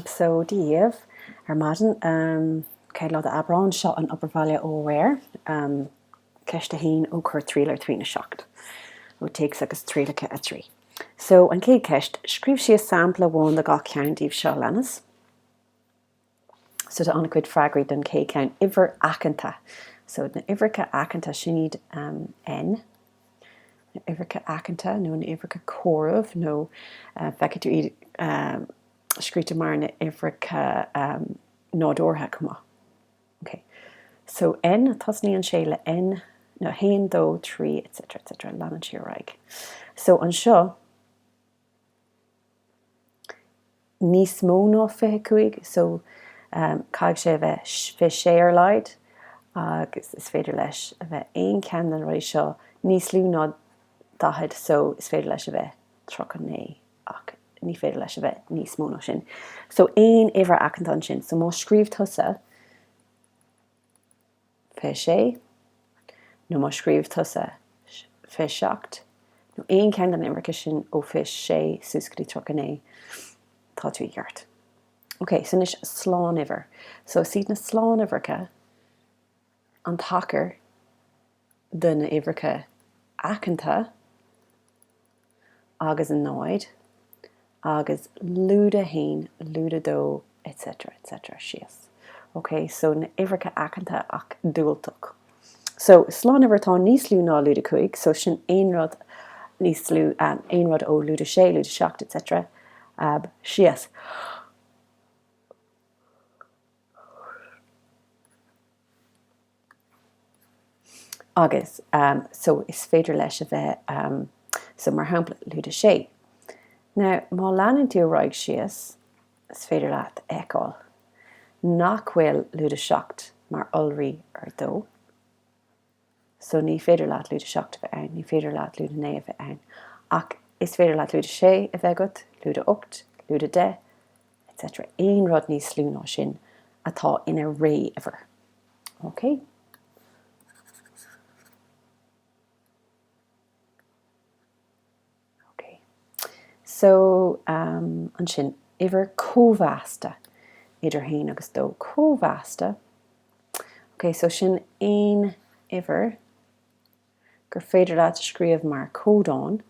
So Dia daoibh ar maidin. Céad lá d'Aibreán, seo an obair baile ó aréir. Ceist 1 ó Cuir triail ar trí náid seacht. ó Téacs agus Trialacha 3. So an chéad cheist, scríobh síos sampla amháin de gach ceann díobh seo leanas. So tá an-chuid freagraí don chéad ceann uimhir aiceanta. So na uimhreacha aiceanta sin iad um, N, na uimhreacha aiceanta nó na uimhreacha comhairimh nó feicfidh tú iad scríofa mar na uimhreacha nádúrtha chomh maith. OK. So N, tosnaíonn sé le 1, 2, 3 etc etc leanann sé ar aghaidh. So anseo, níos mó ná 25 so caithfidh sé a bheith 26 ar a laghad agus is féidir leis a bheith aon cheann de na rudaí seo níos lú ná 40 so is féidir leis a bheith 39 ach ní féidir leis a bheith níos mó ná sin so aon uimhir aiceanta ansin so má scríobh tusa fiche sé, nó má scríobh tusa, fiche seacht, nó aon cheann de na huimhreacha sin ó fiche sé suas go dtí tríocha naoi, tá tú i gceart. Ok, so anois slánuimhir. So is iad na slánuimhreacha an tacar de na uimhreacha aiceanta, agus an 0, agus lúide 1, lúide 2, etc. etc. síos. OK, so na uimhreacha aiceanta ach diúltach. So, slánuimhir atá níos lú ná lúide 5, so sin aon rud níos lú, aon rud ó lúide 6, lúide 7, etc. ag dul síos. agus so is féidir leis a bheith so mar shampla lúide 6. Now má leanann tú ar aghaidh síos is féidir leat a fheiceáil nach bhfuil lúide 7 mar iolraí ar 2. So ní féidir leat lúide 7 a bheith ann, ní féidir leat lúide 9 a bheith ann ach is féidir leat lúide 6 a bheith agat, lúide 8, lúide 10, etc. aon rud níos lú ná sin atá ina ré-uimhir. OK. OK. So, um, ansin, uimhir cóimheasta idir 1 agus 2 cóimheasta. OK, so sin aon uimhir gur féidir leat a scríobh mar codán.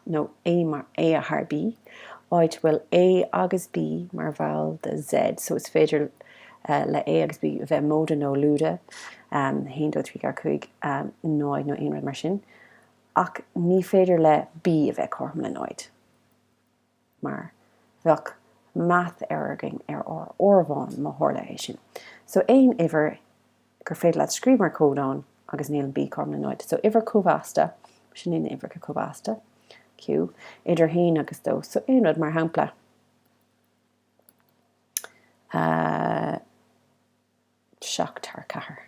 nó A mar A thar B, áit a bhfuil A agus B mar bhall de Z, so is féidir le A agus B bheith móide nó lúide, 1, 2, 3, 4, 5, 0 nó aon rud mar sin, ach ní féidir le B a bheith cothrom le 0. mar bheadh math error againn ar ár n-áireamhán, má tharla é sin. So aon uimhir gur féidir leat scríobh mar codán agus níl B cothrom le 0. So uimhir cóimheasta, sin iad na huimhreacha cóimheasta, Q, idir 1 agus 2. So aon rud mar shampla, uh, 7 thar 4.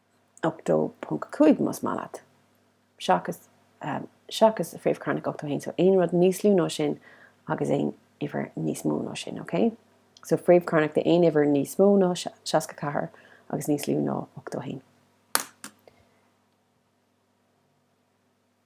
8.5 más maith leat, seachas seachas fréamh chearnach 81, so aon rud níos lú ná sin agus aon uimhir níos mó ná sin, ok? So fréamh chearnach de aon uimhir níos mó ná 64 agus níos lú ná 81.